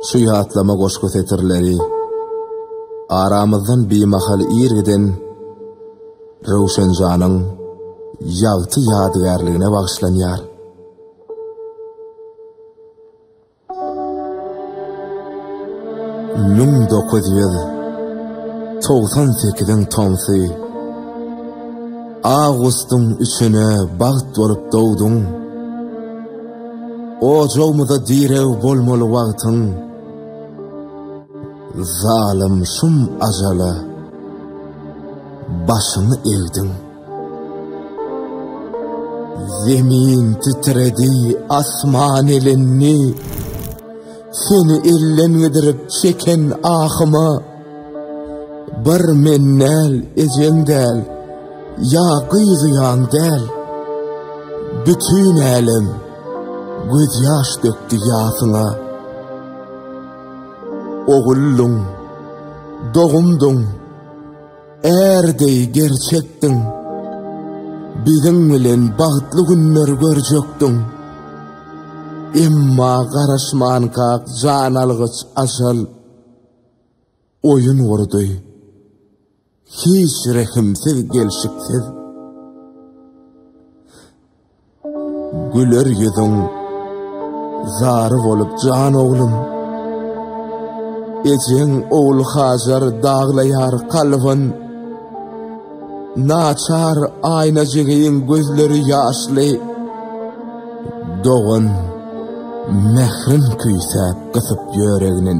Şu ýatlama goşgy setirleri aramyzdan bimahal ir giden Röwşenjanyň ýagty ýadygärligine bagyşlanýar. Müň dokuz ýüz togsan sekiziň tomsy A gustyň üçüne bagt bolup dogduň. Ojagmyza direg bolmaly wagtyň. Zalym şum ajala başyňy egdiň. Zemin titredi, asman elendi. Seni elden gidirip çeken ahyma. Bir men däl, ejeň däl, ýa gyýylýaň däl, Bütin älem gözýaş dökdi ýasyňa. Oguldyň, dogumdyň, är deý gerçekdiň, Biziň bilen bagtly günler görjekdiň. Emma garaşmanka jan algyç ajal. Oýun gurdy. Hiç rehimsiz gelşiksiz. Güler ýüzüň zary bolup jan oglum. Ejeň ogul Hajar daglaýar kalbyn. Naçar aýnajygyň gözleri ýaşly. Dogan mehrin küýsäp gysyp ýöreginin.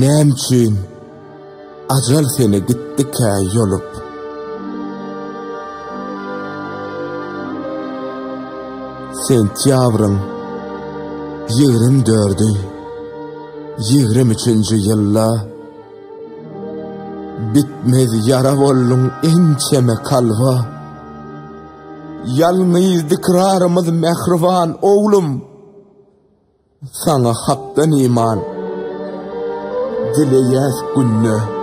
Näme üçin ajal seni gitdikä ýolup? Sentýabryň ýigrimi dördi, ýigrimi üçünji ýylda bitmez ýara bolduň ençeme kalba. Ýalňyz dikrarymyz mähriban oglum. Saňa hakdan iman dileýäs günde.